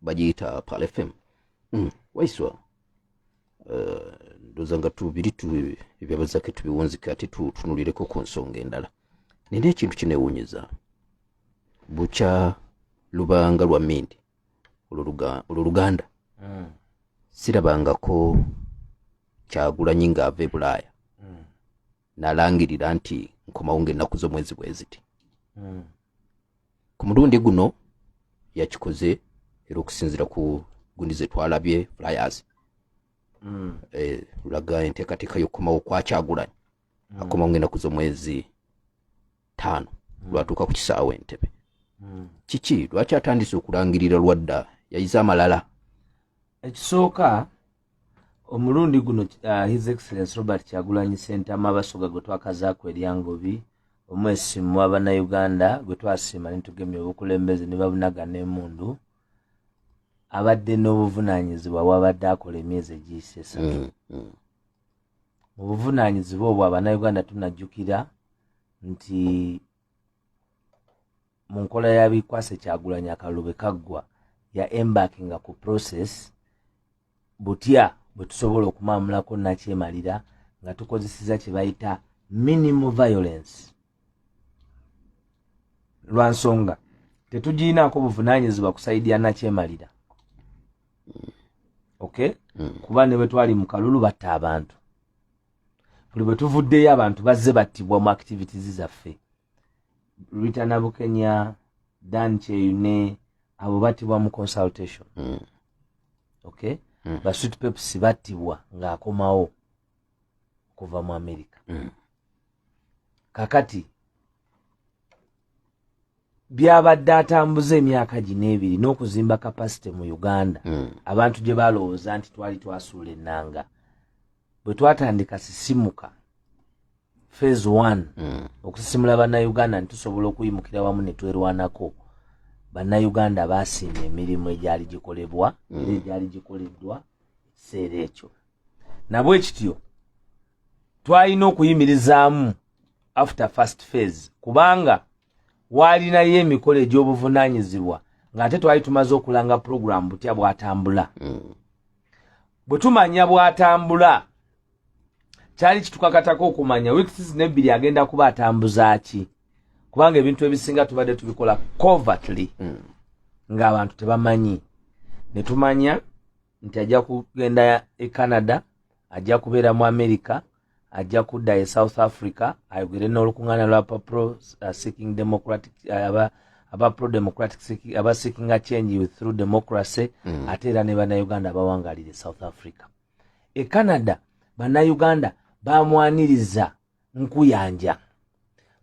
bagiyita pal fm mm, waiswa uh, ndoza nga tubiri ebyabazake tubiwunzike ate tutunulireko ku nsonga endala nina ekintu kinewunyeza bukya lubanga lwa mindi olwo luganda mm. sirabangako kyagulanyi ng'ava e bulaaya nalangirira nti nkomawo ngaennaku z'omwezi bweziti hmm. ku mulundi guno yakikoze era okusinzira ku gundi zetwalabye flyers hmm. eh, laga enteekateeka y'okukomawo kwakyagulanyi hmm. akomawo ngaennaku z'omwezi taano lwatuuka ku kisaawa entebe kiki lwaki atandise okulangirira lwadda yayize amalala ekisooka omulundi guno uh, his excellence robert kyagulanyi sentama abasoga gwe twakazaako eryangobi omwesi mu abanauganda gwe twasiima nitugemya obukulembeze ne babunaga n'emundu abadde n'obuvunaanyizibwa wabadde akola emyezi egiyise esatu mm, mm. mu buvunaanyizibwa obwo abanauganda tunajjukira nti mu nkola ya bikwase kyagulanyi akalulu bwe kaggwa ya embakinga ku process butya bwe tusobola okumaamulako nakyemalira nga tukozeseza kye bayita minimal violence lwa nsonga tetugirinaako buvunanyizibwa kusaidia nakyemalira okay mm. kuba ne bwe twali mu kalulu batta abantu buli bwe tuvuddeyo abantu bazze battibwa mu activities zaffe rita nabukenya dan kyeyune abo battibwa mu consultation mm. okay mm. basweet peps battibwa ng'akomawo okuva mu america mm. kakati byabadde atambuza emyaka gino ebiri n'okuzimba kapasite mu uganda hmm. abantu gye balowooza nti twali twasuula ennanga bwe twatandika sisimuka fase one hmm. okusisimula bannayuganda nti tusobola okuyimukira wamu ne twerwanako bannayuganda baasiima emirimu egyali gikolebwa era hmm. egyali gikoleddwa ekiseera ekyo nabwe kityo twalina okuyimirizaamu after first phase kubanga waalinayo emikolo egy'obuvunaanyizibwa ng'ate twali tumaze okulanga pulogulaamu butya bwatambula hmm. bwe tumanya bwatambula kyali kitukakatako okumanya weeks nebbiri agenda kuba atambuza ki kubanga ebintu ebisinga tubadde tubikola covertly hmm. ng'abantu tebamanyi ne tumanya nti ajja kugenda e canada ajja kubeera mu america ajja kudda e south africa ayogere n'olukuŋŋaana lwa pro uh, seeking democratic uh, aba aba pro democratic aba seeking a change through democracy mm. ate era ne bannayuganda abawangalire south africa e canada bannayuganda bamwaniriza nkuyanja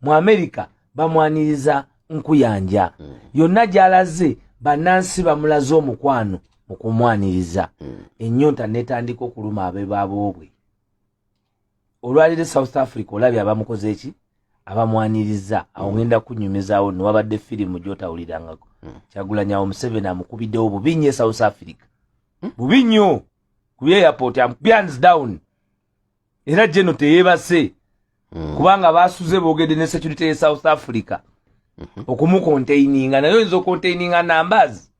mu amerika bamwaniriza nkuyanja mm. yonna gyalaze bannansi bamulaze omukwano mu kumwaniriza mm. ennyonta netandika okuluma abebaboobwe olwaliro south africa olabye abamukoze eki abamwaniriza awo mm. ngenda kunyumizawo newabadde firimu gyotawulirangako mm. kyagulanyawo museveni amukubiddewo bubi nyo e south africa mm. bubi nyo ku airport am pians down era jeno teyebase mm. kubanga basuze bogede ne security ye south africa mm -hmm. okumukontaininga naye oyinza okontaininga numbers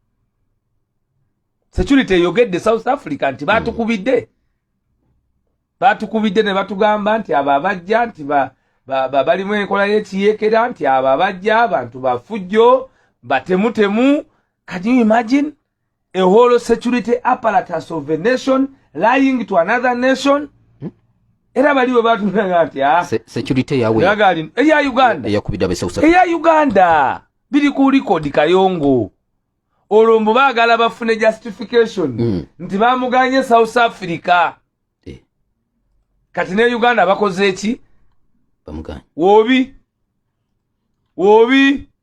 security eyogedde south africa nti mm. batukubidde mm. batukubidde ne batugamba nti abo abajja nti ba, ba, ba, balimu enkola yekiyekera nti abo abajja abantu bafujjo batemutemu can you imagine a whole security apparatus of a nation lying to another nation hmm? era bali webatunaa nti ah, security yawe eya uganda eya uganda biri ku likodi kayongo olwo mbu baagala bafune justification hmm. nti bamuganye south africa eh. kati ne uganda bakoze eki wobi wobi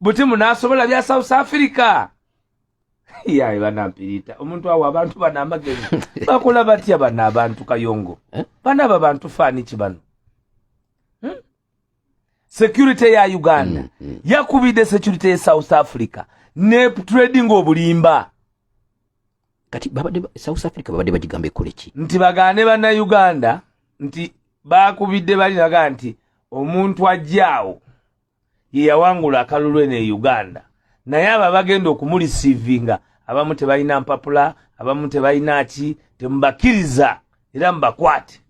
buti munasobola bya south africa yaye banampirita omuntu awo abantu bana amagezi bakola batya bana abantu kayongo eh? bana aba bantu faniki bano hmm? security ya uganda mm, mm. yakubidde security ye south africa ne trading obulimba kati babade south africa babade bagigamba ekoleki nti bagane bana uganda nti bakubidde bali naga nti omuntu ajjaawo yeyawangula akalulu eno e uganda naye abo abagenda okumulisiivinga abamu tebalina mpapula abamu tebalina ki temubakkiriza era mubakwate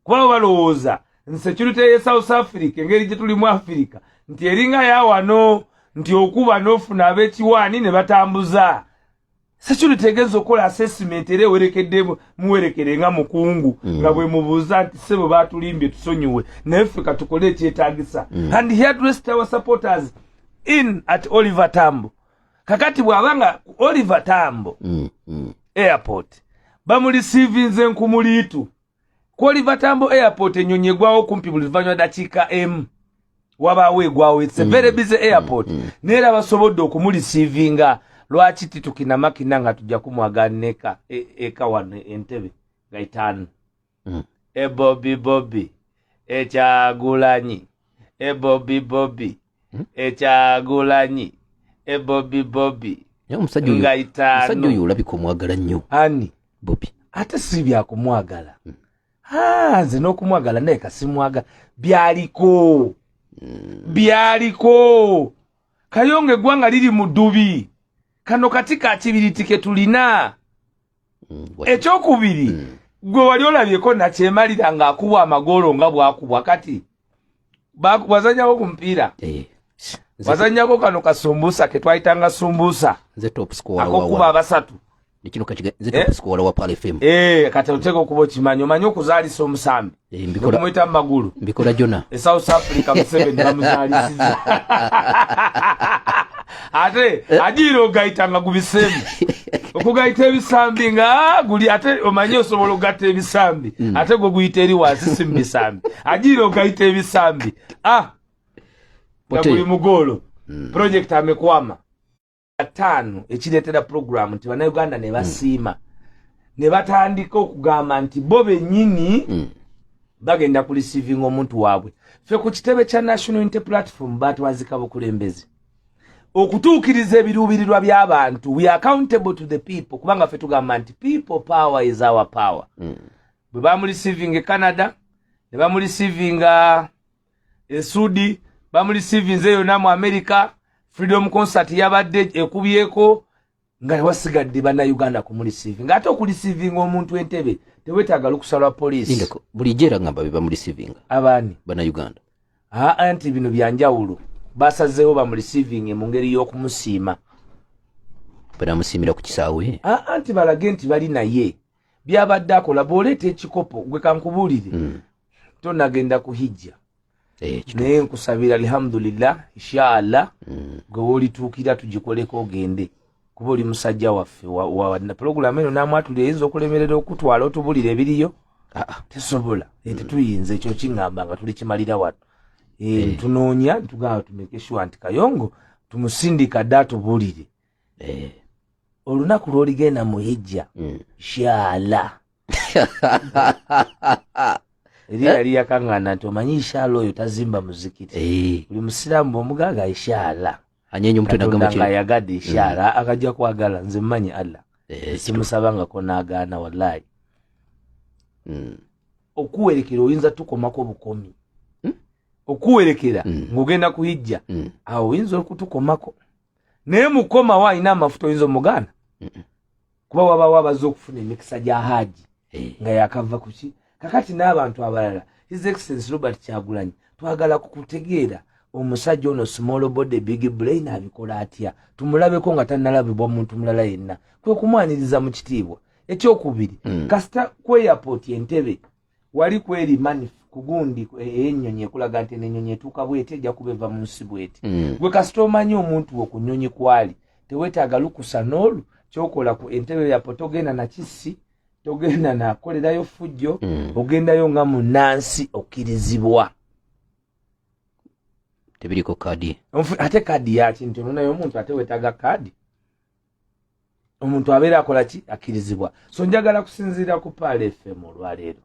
kuba balowooza nsecurity ye south africa engeri gye tuli mu afirika nti eringa yawano nti okuba n'ofuna ab'ekiwaani ne batambuza security egeza okola assessment era ewerekedde muwerekere nga mukungu mm. nga bwemubuuza nti sebo batulimbye tusonyiwe naye ffe katukole ekyetagisa mm. and he addressed our supporters in at oliver tambo kakati bwaba nga oliver tambo mm. airport bamulisiivinze nkumuliitu kwoliva tambo airport enyonyi egwawo kumpi buli luvanyuma dakiika emu wabaawo egwawo its a very mm. busy airport mm, mm. naye era basobodde okumulisiivinga lwaki titukinamakina nga tujja kumwaganeka e, eka wano entebe nga itaano ebobi bobi ekyagulanyi ebobi bobi hmm? ekyagulanyi ebobi bobi nga itaanomusajja oyo olabika omwagala nnyo ani bobi ate si byakumwagala hmm. ah, nze n'okumwagala naye kasimwagala byaliko hmm. byaliko kayonga eggwanga liri mu ddubi kano kati kakibiriti ke tulina mm, ekyokubiri mm. gwe wali olabyeko nakyemalira nga akubwa amagoolo nga bwakubwa kati wazanyako ku mupiira eh, wazanyako kano kasumbusa ketwayitanga sumbusa akokuba abasatu eh? eh, kati oteka okuba okimanyi omanyi okuzalisa omusambi Eh, mbikola magulu mbikola jona e south africa museveni bamuzalisiza ate eh? ajiira ogayita nga gubisemu okugayita ebisambi nga ah, guli ate omanye osobola okugatta ebisambi mm. ate gwe guyita eri wansi si mubisambi ajiira ogayita ebisambi ah nga guli mugoolo mm. project amekwama ataano ekireetera pulogulaamu nti bannayuganda ne basiima mm. ne batandika okugamba nti bo bennyini mm. bagenda ku receivinga omuntu waabwe ffe ku kitebe kya national inte platform batwazika bukulembeze okutuukiriza ebiruubirirwa by'abantu we accountable to the people kubanga ffe tugamba nti people power is our power mm. bwe bamulisivinga e canada ne bamulisivinga esuudi bamulisivinze yona mu america freedom concert yabadde ekubyeko nga ewasigadde banauganda kumulisivi nga ate okulisivinga omuntu entebe tewetaaga lukusa lwa poliisi bulijjo era ngamba bebamulisivinga abaani banauganda aa nti bino byanjawulo basazeewo bamulisivinge mu ngeri y'okumusiima banamusiimira ku kisaawe aa nti balage nti bali naye byabadde akola bwoleeta ekikopo gwe kankubuulire mm. tonagenda ku hijja eh, naye nkusabira alhamdulillah inshaallah mm. gwe wolituukira tugikoleko ogende kuba oli musajja waffe pulogulamu eno namwatulira eyinza okulemerera okutwala otubulira ebiriyo ah, ah. tesobola eh, tetuyinza ekyo kiŋamba nga tuli kimalira wano eh, tunoonya tugamba tumekeshuwa nti kayongo tumusindika dda atubulire eh. olunaku lwoligenda mu hijja mm. shala eri eh? yali yakangana nti omanyi ishala oyo tazimba muzikiti eh. buli musiraamu bwomugaga ishala anyeenyomutwenagamuayagade ishala mm. akajja kwagala nze mmanyi allah eh, simusabangako nagaana wallahi mm. okuwerekera oyinza tukomako bukomi hmm? okuwerekera hmm. ng'ogenda kuhijja hmm. awo oyinza okutukomako naye mukomawo alina amafuta oyinza omuganda kuba wabawo abazze okufuna emikisa gya haaji eh. nga yakava kuki kakati n'abantu abalala his excellence robert kyagulanyi twagala kukutegeera omusajja ono small body big brain abikola atya tumulabeko nga tanalabibwa omuntu mulala yenna kwekumwaniriza mu kitiibwa ekyokubiri mm. kasita ku airport entebe wali kweri mani kugundi eyenyonyi eh, ekulaga nti enenyonyi etuuka bweti ejja kuba eva mu nsi bweti mm. gwe kasita omanyi omuntu wo ku nyonyi kwali tewetaaga lukusa n'olu kyokola ku entebe yapo togenda nakisi togenda nakolerayo fujjo mm. ogendayo nga munansi okkirizibwa tebiriko kadi ate kadi yakintu nonaye omuntu ate wetaaga kadi omuntu abeera akola ki akkirizibwa so njagala kusinziira ku paala fm olwaleero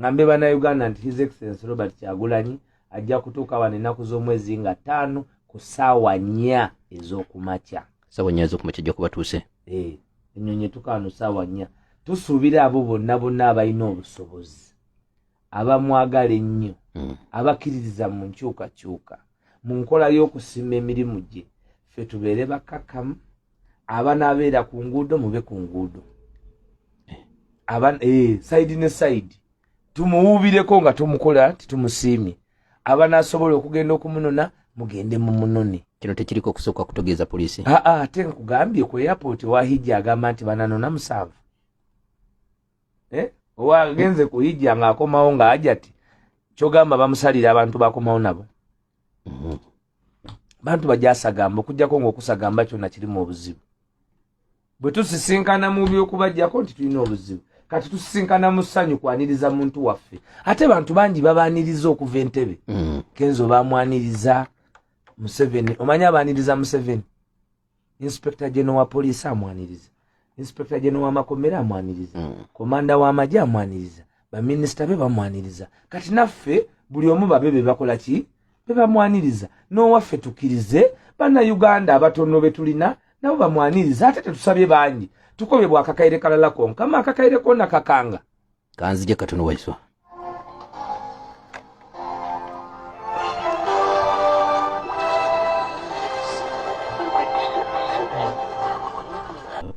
ngambe banauganda nti his excellence robert kyagulanyi ajja kutuuka wano ennaku z'omwezi nga ttaano ku saawa nnya ez'okumakya saawa nnya ez'okumakya jja kubatuuse eh, ennyonyi etukaano saawa nnya tusuubira abo bonna bonna abalina obusobozi abamwagala ennyo hmm. abakkiririza mu nkyukakyuka mu nkola y'okusiima emirimu gye ffe tubeere bakkakkamu abanaabeera ku nguudo mube ku nguudo eh, sayidi ne sayidi tumuwuubireko nga tumukola titumusiimye abanaasobola okugenda okumunona mugende mu munone kino tekiriko okusooka kutegeeza poliisi aa ah, ah, ate nkugambye ku airport wahijja agamba nti bananona musanvu eh? owa agenze ku hijja nga akomawo nga ajati kyogamba bamusalira abantu bakomawo nabo mm-hmm. bantu bajasagamba okujjako ngaokusagamba kyona kirimu obuzibu bwe tusisinkana mu byokubajjako nti tulina obuzibu kati tusisinkana mu ssanyu kwaniriza muntu waffe ate bantu bangi babaniriza okuva entebe mm. kenzo bamwaniriza museveni omanyi abaniriza museveni inspector general wa poliisi amwaniriza inspector general wa makomera amwaniriza mm. komanda wa maji amwaniriza baminisita be bamwaniriza kati naffe buli omu babe be bakola ki be bamwaniriza n'owaffe tukirize banna uganda abatono be tulina nabo bamwaniriza ate tetusabye bangi tukobye bwakakaire kalala konkama akakaire kona kakanga kanzije katono waiswa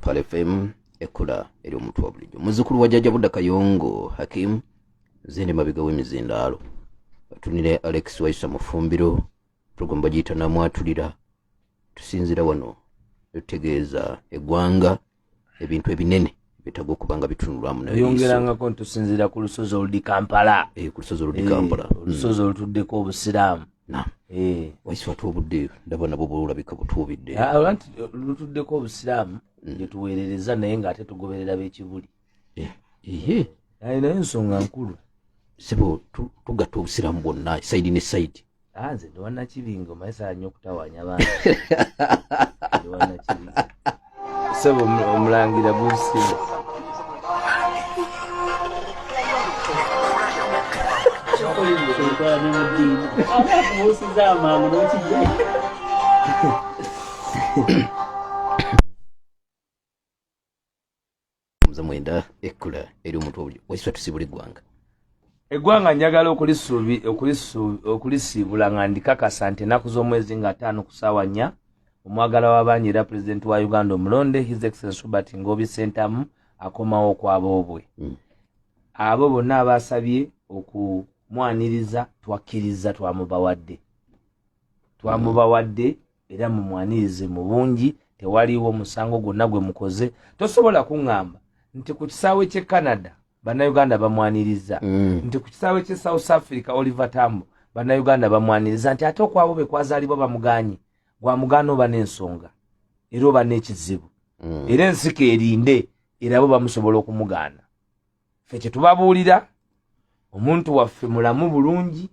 pale fm ekula eri omuntu wa bulijjo muzukulu wa jajja budda kayongo hakim zindi mabega w'emizindaalo batunire alex waiswa mufumbiro program bagiyita namwatulira tusinzira wano tutegeeza egwanga ebintu ebinene betaga okuba nga bitunulwamu nayongerangako ntusinzira ku lusozi oludi kampala eh, ku lusozi oludi eh, kampala hmm. olusozi olutuddeko obusiraamu eh. waisi watu obudde ndaba nabwo bulabika butuubidde ah, lutuddeko obusiraamu gyetuweerereza hmm. naye ngaate tugoberera bekibuli eh, ehe naye naye nsonga nkulu sebo tugatta obusiramu bwonna saidi ne saidi ah, nze ndiwanakibingo mayisaanyo okutawanya bantu sebo omulangira gusimu Thank you. mwenda ekkula eri omuntu obulyo wekisa tusibula eggwanga eggwanga njagala okulisiibula nga ndikakasa nti ennaku z'omwezi nga ataano ku saawa nnya omwagala w'abangi era pulezidenti wa uganda omulonde his excellence robert ngobi sentamu akomawo okwaboobwe mm. abo bonna abaasabye okumwaniriza twakkiriza twamubawadde twamubawadde era mumwanirize mu bungi tewaliwo musango gwonna gwe mukoze tosobola kuŋŋamba nti ku kisaawe ky'e canada bannayuganda bamwaniriza mm. nti ku kisaawe ky'e south africa oliver tambo bannayuganda bamwaniriza nti ate okwabo be kwazaalibwa bamuganye gwamugaana oba n'ensonga era oba n'ekizibu mm. era ensika erinde era bo bamusobola okumugaana fe kyetubabuulira omuntu waffe mulamu bulungi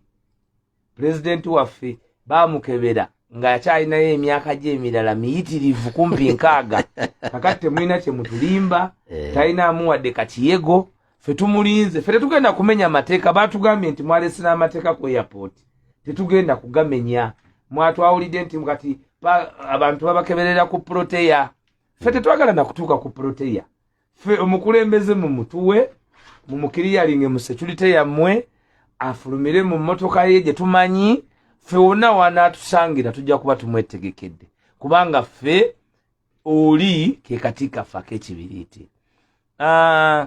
pulezidenti waffe bamukebera ng'akyalinayo emyaka gye emirala miyitirivu kumpi nkaaga kakati temulina kyemutulimba eh. talina amuwadde kakiyego fe tumulinze fe tetugenda kumenya amateeka batugambye nti mwalesina amateeka ku airport tetugenda kugamenya mwatwawulidde nti kati abantu babakeberera ku proteya fe tetwagala nakutuuka ku proteya ffe omukulembeze mu mutuwe mu mukiriyalinge mu security yammwe afulumire mu mmotoka ye gye tumanyi ffe wonna wanaatusangira tujja kuba tumwetegekedde kubanga ffe oli ke kati kaffe ak'ekibiriiti ah,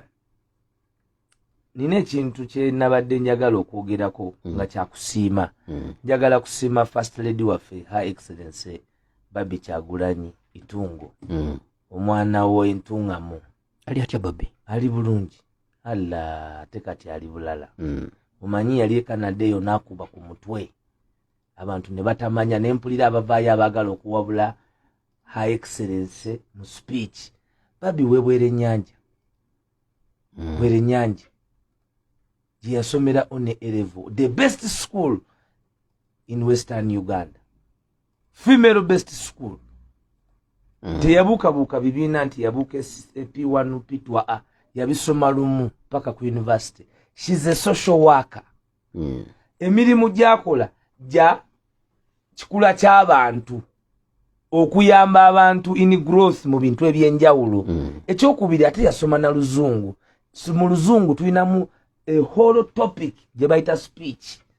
nina ekintu kyenabadde njagala okwogerako mm. nga kyakusiima mm. njagala kusiima first lady waffe her excellency babi kyagulanyi itungo mm. omwana wo entungamu ali atya babi ali bulungi ala ate kati ali bulala mm. omanyi yali ekanada eyo nakuba ku mutwe abantu ne batamanya ne mpulira abavaayo abaagala okuwabula her excellence mu speech babi webwere nyanja mm. bwere nyanja gyeyasomera one erevo the best school in western uganda female best school mm. teyabuukabuuka bibiina nti yabuuka p1 p2 a yabisoma lumu paka ku university shes a social worker mm. emirimu gyakola gya kikula ky'abantu okuyamba abantu in growth mu bintu ebyenjawulo mm. ekyokubiri ate yasoma na luzungu mu luzungu tulinamu eholo topic gye bayita speech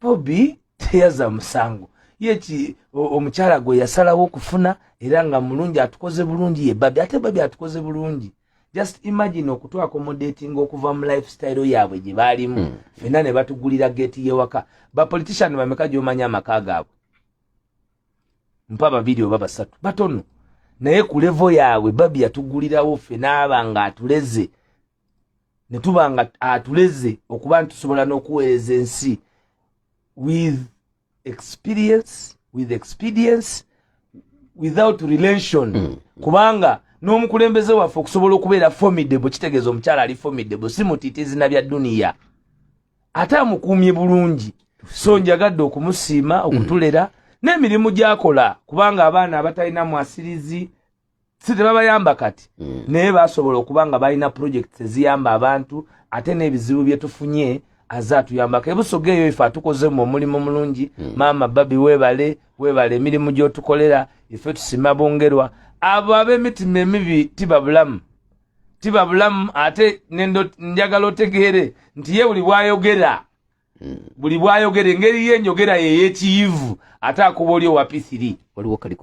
bobi teyaza musango yeki omukyala gwe yasalawo okufuna era nga mulungi atukoze bulungi ye babi ate babi atukoze bulungi just imagine okutwakomodatinga okuva mu lifestyle yaabwe gye baalimu mm. fena ne batugulira geeti yewaka bapolitician bameka gyomanya amaka gaabwe mpa babiri oba basatu batono naye ku levo yaabwe babi yatugulirawo fena aba nga atuleze ne tuba nga atuleze okuba nti tusobola n'okuweereza ensi with experience with expedience without relation mm. kubanga n'omukulembeze waffe okusobola okubeera formidable kitegeeza omukyala ali formidable si mutiita ezina bya duniya ate amukuumye bulungi so njagadde okumusiima okutulera mm. n'emirimu gyakola kubanga abaana abatalina mwasirizi si tebabayamba kati mm. naye basobola okuba nga balina projects eziyamba abantu ate n'ebizibu bye tufunye aze atuyambako ebusoga eyo ife atukozemu omulimu mulungi mm. maama babi webale webale emirimu gyotukolera ife tusima bongerwa abo ab'emitima emibi tiba bulamu tiba bulamu ate njagala otegeere nti ye buli bwayogera mm. buli bwayogera engeri ye enjogera yeyekiyivu ate akuba oli owa p3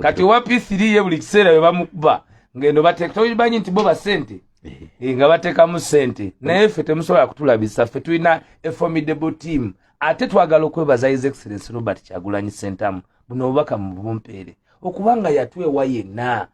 kati owa p3 ye buli kiseera webamukuba ngendo bateeka tobanyi nti bo basente eh. Eh, nga batekamu sente naye ffe temusobola kutulabisa ffe tulina eformidable team ate twagala okwebaza his excellence robert kyagulanyi sentamu buno obubaka mubumpeere okubanga yatwewa yenna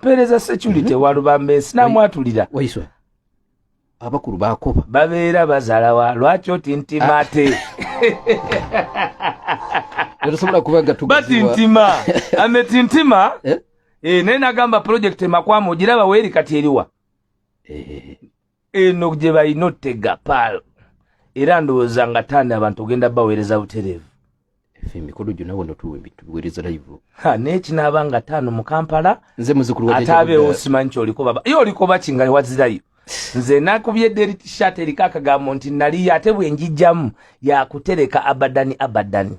pereza security mhm. walubambe sinamwatulira waiswa abakulu bakoba babeera bazalawa lwaki oti nti ah. mate tosobola kubaga bati ntima ameti ntima eh? eh, naye nagamba project emakwama ogiraba weeri kati eriwa eh, eh, eh. eno gye balina ottega paal era ndowooza nga tanda abantu ogenda baweereza butereevu ffe emikolo gyona wano tuweereza live nekinaaba nga taano mu kampala nze muzukulu ate abeewo simanyi kyolikoba ye olikoba kinga wazirayo nze nakubye deri tishat eriko akagambo nti naliyo ate bwenjijjamu yakutereka abadani abadani